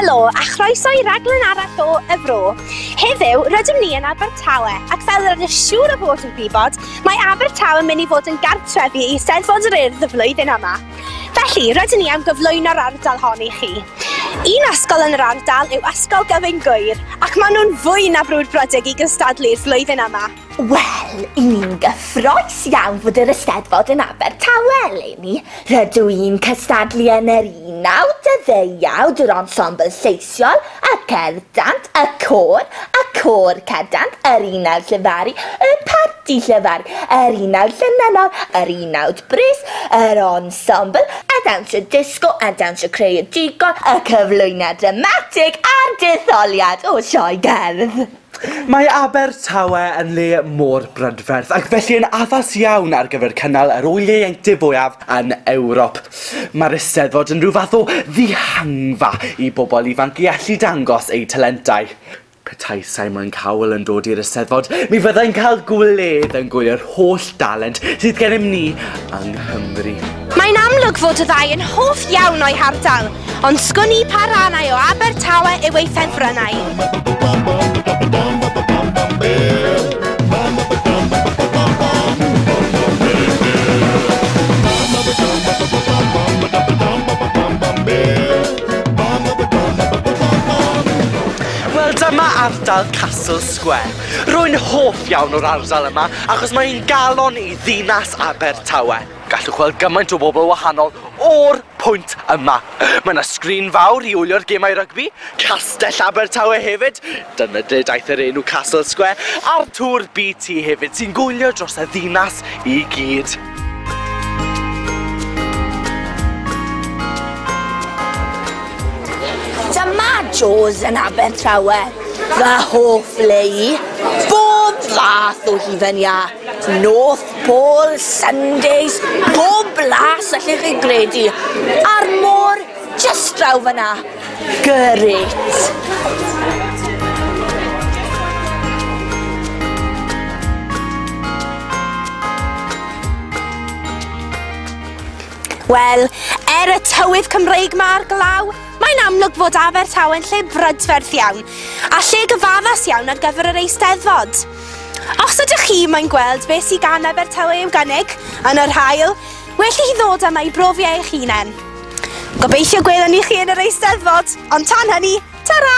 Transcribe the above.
Helo a chroeso i raglen arall o Y Fro. Heddiw, rydym ni yn Abertawe ac fel yr ydych siŵr o fod yn gwybod, mae Abertawe yn mynd i fod yn gartref i Eisteddfod yr Urdd y flwyddyn yma. Felly, rydyn ni am gyflwyno'r ardal hon i chi. Un ysgol yn yr ardal yw Ysgol Gyfyng Gŵyr ac maen nhw'n fwy na brwdfrydig i gystadlu'r flwyddyn yma. Wel, i ni'n gyffroes iawn fod yr Eisteddfod yn Abertawe eleni. Rydw i'n cystadlu yn yr unawd, y ddeuawd, yr ensemble lleisiol, y cerddant, y côr, y côr cerddant, yr unawd llefaru, y parti llefaru, yr unawd llenynnol, yr unawd brys, yr ensemble, y dawnsio disgo, y dawnsio creadigol, y cyflwyniad dramatig a'r detholiad o sioe gerdd. Mae Abertawe yn le mor brydferth ac felly yn addas iawn ar gyfer cynnal yr ŵyl ieuenctid fwyaf yn Ewrop. Mae'r Eisteddfod yn rhyw fath o ddihangfa i bobl ifanc i allu dangos eu talentau. Petai Simon Cowell yn dod i'r Eisteddfod, mi fyddai'n cael gwledd yn gwylio'r holl dalent sydd gennym ni yng Nghymru. Mae'n amlwg fod y ddau yn hoff iawn o'i hardal. Ond sgwn i pa rannau o Abertawe yw ei ardal Castle Square. Rwy'n hoff iawn o'r ardal yma achos mae'n galon i ddinas Abertawe. Gallwch weld gymaint o bobl wahanol o'r pwynt yma. Mae 'na sgrin fawr i wylio'r gemau rygbi, Castell Abertawe hefyd, dyna lle daeth yr enw Castle Square, a'r tŵr BT hefyd sy'n gwylio dros y ddinas i gyd. Dyma Joe's yn Abertawe, fy hoff le i, bob fath o hufen iâ! North Pole Sundays, pob blas allech chi gredu, a'r môr just draw fyna. Gyrrit! Wel, er y tywydd Cymreig mae'r glaw, mae'n amlwg fod Abertawe'n lle brydferth iawn, a lle gyfaddas iawn ar gyfer yr eisteddfod. Os ydych chi mae'n gweld beth sydd gan Abertawe i'w gynnig yn yr haul, well i chi ddod yma i brofi e eich hunain. Gobeithio gwelwn ni chi yn yr Eisteddfod, ond tan hynny, ta-ra!